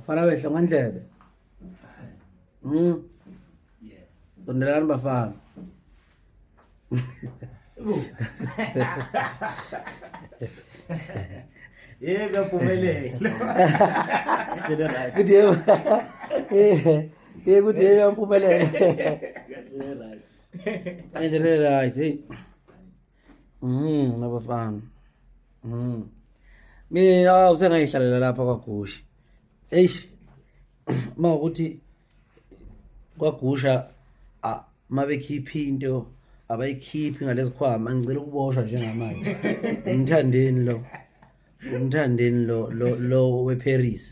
fana behla ngandlebe mm sondelani bafana Eh, kaphumelele. Kuthi yebo. Eh, eh kuthi yebo yamphumelele. Endelele right. Hey. Mm, nabafana. Mm. Mina usengayihlalela lapha kwaGushi. Eish. Uma ukuthi kwagusha uma bekhiphe into abayikhiphi ngalezikhwama ngicela ukuboshwa njengamanje umthandeni lo umthandeni lo lo lo weParis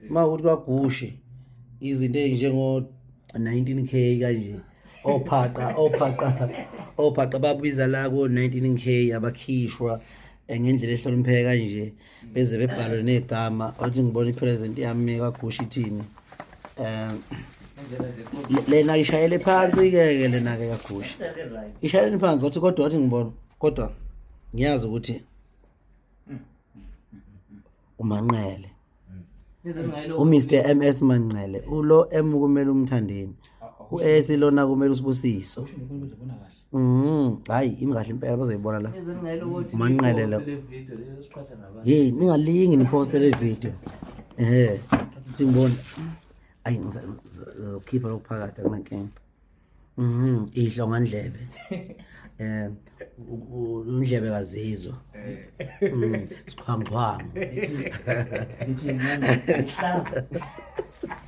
uma ukuthi kwagushe izinto ezinjengo 19k kanje ophaqa ophaqa ophaqa babiza la ko 19k abakhishwa eh, ngendlela ehlonipheka kanje beze bebhalwe negama othi ngibona ipresent yami kwagusha ithini um lena ishayele phansi ke ke lena ke kagusha ishayele phansi othi kodwa othi ngibona kodwa ngiyazi ukuthi umanqele uMr MS Manqele ulo M kumele umthandeni uS lona kumele usibusiso Mm, hayi imi kahle impela bazoyibona la. Manqele la. Hey, ningalingi ni post le video. Eh. Ngibona. Ayi ngizokhipha lokuphakathi akunankinga. Mhm, idlo ngandlebe. Eh, undlebe kazizwa. Eh. Mm, siqhwangqhwangu.